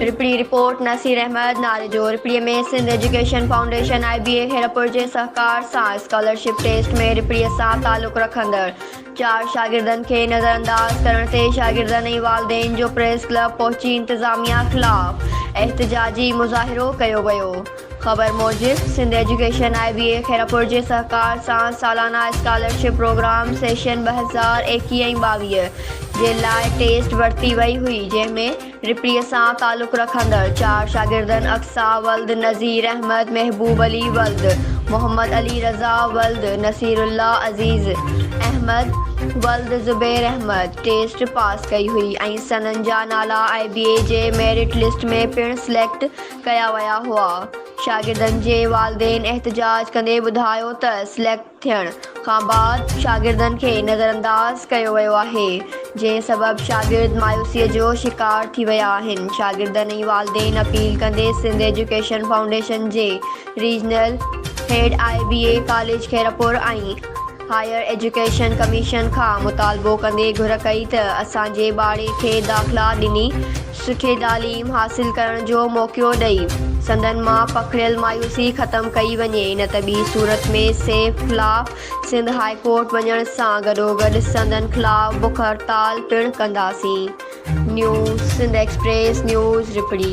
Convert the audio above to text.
رپڙي، report, Naseer Ahmed Nari جو Rapri ۾ Sindh education foundation I B A Khairpur جي سهڪار سان اسڪالرشپ ٽيسٽ ۾ رپڙي سان تعلق رکندڙ چار شاگردن کي نظرانداز ڪرڻ تي شاگردن ۽ والدين جو پريس ڪلب پهچي انتظاميا خلاف احتجاجي مظاهرو ڪيو ويو خبر موجب Sindh education I B A Khairpur جي سهڪار سان سالانه اسڪالرشپ پروگرام سيشن ٻه هزار ايڪيهه ۽ ٻاويهه جي لاء ٽيسٽ ورتي وئي هئي جنهن ۾ رپري سان تعلق رکندڙ چار شاگردن اقصيٰ ولد نظير احمد محبوب علي ولد محمد علي رضا ولد نصير الله عزيز احمد ولد زبير احمد ٽيسٽ پاس ڪئي هئي ۽ سندن جا نالا آء بي اي جي ميرٽ لسٽ ۾ پڻ سليڪٽ ڪيا ويا هئا. شاگردن جي والدين احتجاج ڪندي ٻڌايو ته سليڪٽ ٿيڻ کان بعد شاگردن کي نظرانداز ڪيو ويو آهي، جنهن سبب شاگرد مايوسيء جو شڪار ٿي ويا آهن. شاگردن ۽ والدين اپيل ڪندي سنڌ ايجوڪيشن فائونڊيشن جي regional head I B A college Khairpur ۽. Higher education commission کان مطالبو ڪندي گهر ڪئي ته اسان جي ٻارڙي کي داخلا ڏني سٺي تعليم حاصل ڪرڻ جو موقعو ڏئي سندن مان پکڙيل مايوسي ختم ڪئي وڃي نه ته ٻي صورت ۾ سيف خلاف سنڌ هاء ڪورٽ وڃڻ سان گڏوگڏ سندن خلاف بک هڙتال پڻ ڪنداسين نيوز سنڌ ايڪسپريس نيوز رپڙي.